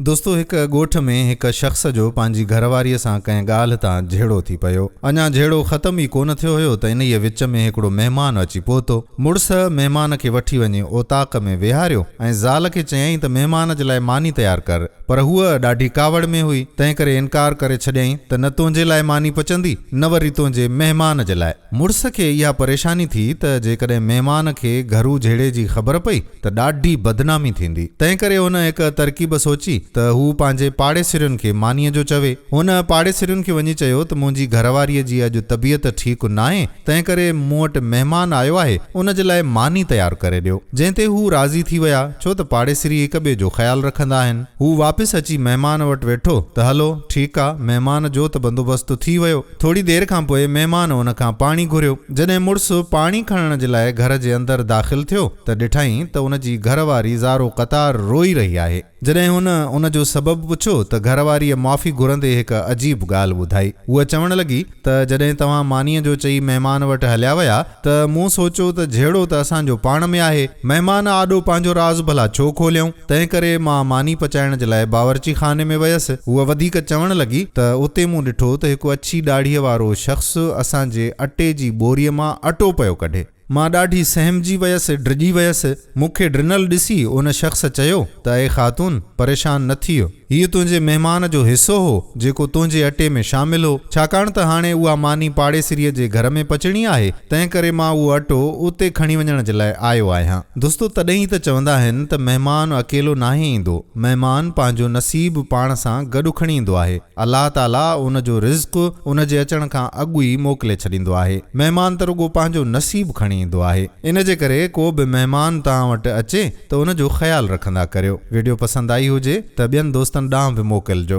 دوستو هڪ ڳوٺ ۾ هڪ شخص جو پنهنجي گهر واريء سان ڪنهن ڳالهه تان جهيڙو ٿي پيو. اڃا جهيڙو ختم ئي ڪونه ٿيو هيو ته انهيء وچ ۾ هڪڙو مهمان اچي پهتو. مڙس مهمان کي وٺي وڃي اوطاق ۾ ويهاريو ۽ زال کي چيائين ته مهمان جي لاء ماني تيار ڪر. پر هوء ڏاڍي ڪاوڙ ۾ هئي، تنهنڪري انڪار ڪري ڇڏيائين ته نه تنهنجي لاء ماني پچندي، نه وري تنهنجي مهمان جي لاء. مڙس کي اها پريشاني ٿي ته جيڪڏهن مهمان کي گهرو جهيڙي جي خبر پئي ته ڏاڍي بدنامي ٿيندي. تنهنڪري هن هڪ ترڪيب سوچي ته هو پنهنجي پاڙيسرين کي مانيء جو چوي. هن پاڙيسرين کي وڃي چيو ته منهنجي گهرواريء جي اڄ طبيعت ٺيڪ ناهي، تنهنڪري مون وٽ مهمان آيو آهي، ان جي لاء ماني تيار ڪري ڏيو. جنهن تي هو راضي ٿي ويا، ڇو ته پاڙيسري هڪ ٻئي جو خيال رکندا آهن. هو واپس اچي مهمان وٽ ويٺو ته هلو، ٺيڪ آ، مهمان جو ته بندوبست ٿي ويو. ٿوري دير کان پوء مهمان هن کان پاڻي گهريو. جڏهن مڙس پاڻي کڻڻ جي لاء گهر جي اندر داخل ٿيو ته ڏٺائين ته ان جي گهر واري زارو قطار روئي رهي آهي. جڏهن هن ان جو سبب پڇيو ته گهر واريء معافي گهرندي هڪ عجيب ڳالهه ٻڌائي. هوء چوڻ لڳي ته جڏهن توهان مانيء جو چئي مهمان وٽ هليا ويا ته مون سوچيو ته جهيڙو ته اسان جو پاڻ ۾ آهي، مهمان آڏو پنهنجو راز ڀلا ڇو کوليائون؟ تنهن ڪري مان ماني پچائڻ جي لاء باورچي خاني ۾ ويس. هوء وڌيڪ چوڻ لڳي ته اتي مون ڏٺو ته هڪ اڇي ڏاڙهيء وارو شخص اسان جي اٽي جي ٻوريء مان اٽو پيو ڪڍي. مان ڏاڍي سهمجي ويس، ڊڄي ويس. مون کي ڊنل ڏسي ان شخص چيو ته اي خاتون! پريشان نه ٿيو. هيء تنهنجي مهمان جو حصو هو، جيڪو تنهنجي اٽي ۾ شامل هو، ڇاڪاڻ ته هاڻي اها ماني پاڙيسريء جي گهر ۾ پچڻي آهي، تنهنڪري مان اهو اٽو اتي کڻي وڃڻ جي لاء آيو آهيان. دوستو، تڏهن ئي ته چوندا آهن ته مهمان اڪيلو ناهي ايندو، مهمان پنهنجو نصيب پاڻ سان گڏ کڻي ايندو آهي. الله تعاليٰ ان جو رزق ان جي اچڻ کان اڳ ئي موڪلي ڇڏيندو آهي. مهمان ته رڳو پنهنجو نصيب کڻي ايندو آهي. ان جي ڪري ڪو به مهمان توهان وٽ اچي، ته ان جو خيال رکندا ڪريو. وڊيو پسند آئي هجي ته ٻين دوستن ڏانهن به موڪلجو.